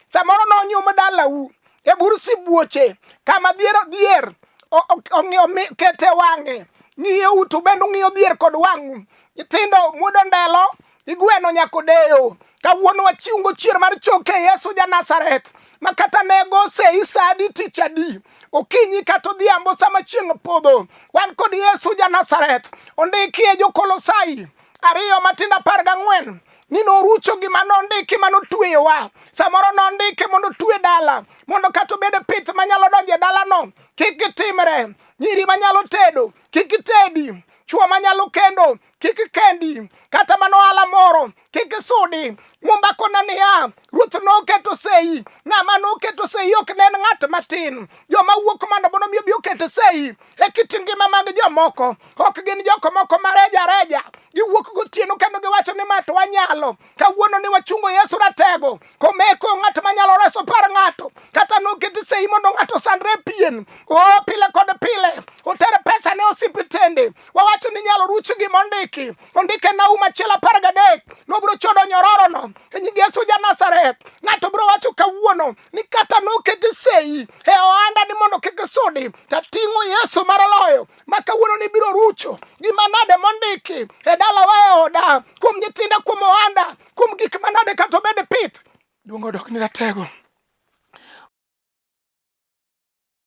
samoro nonyum dalau e bur sibuoche kama dhier dhier ong'iyo kete wang'e ng'iyo utu bende ung'iyo dhier kod wang'u nyithindo mudo ndelo igweno nyako deyo kawuono wachiungo chier mar choke yesu ja nazareth ma kata nego sei sa adi tich adi okinyi kata odhiambo sama chieng' podho wan kod yesu ja nazareth ondikie jokolosai ariyo matindo apar gang'wen ni norucho gima nondiki ma notweyowa samoro nondike mondo otwe dala mondo kata obed pith manyalo donjo e dalano kik gitimre nyiri manyalo tedo kik itedi chuo manyalo kendo kik kendi kata mana ohala moro kik isudi mumba kona niya Ruoth noketo sei. Ng'ama noketo sei ok ne en ng'at matin. Joma wuok mondo mondo mi obi oket sei e kit ngima mag jomoko. Ok gin joko moko mareja reja. Giwuok gotieno kendo giwacho ni mato wanyalo. Kawuono ni wachungo Yesu ratego. Komeko ng'at manyalo reso par ng'ato. Kata noket sei mondo ng'ato sandre pien. O pile kod pile. Oter pesa ne osiptende. wawacho ni inyalo ruch gima ondiki ondike Naum achiel apar gadek nobiro chodo nyororono e nying Yesu ja Nazareth. Ng'ato biro wacho kawuono ni kata noketi sei e ohanda ni mondo kik isudi, tating'o Yesu mar loyo ma kawuono ni biro rucho gima nade mondiki e dalawa e oda, kuom nyithinda, kuom ohanda, kuom gik manade kata obed pith. Duong' odok ni ratego.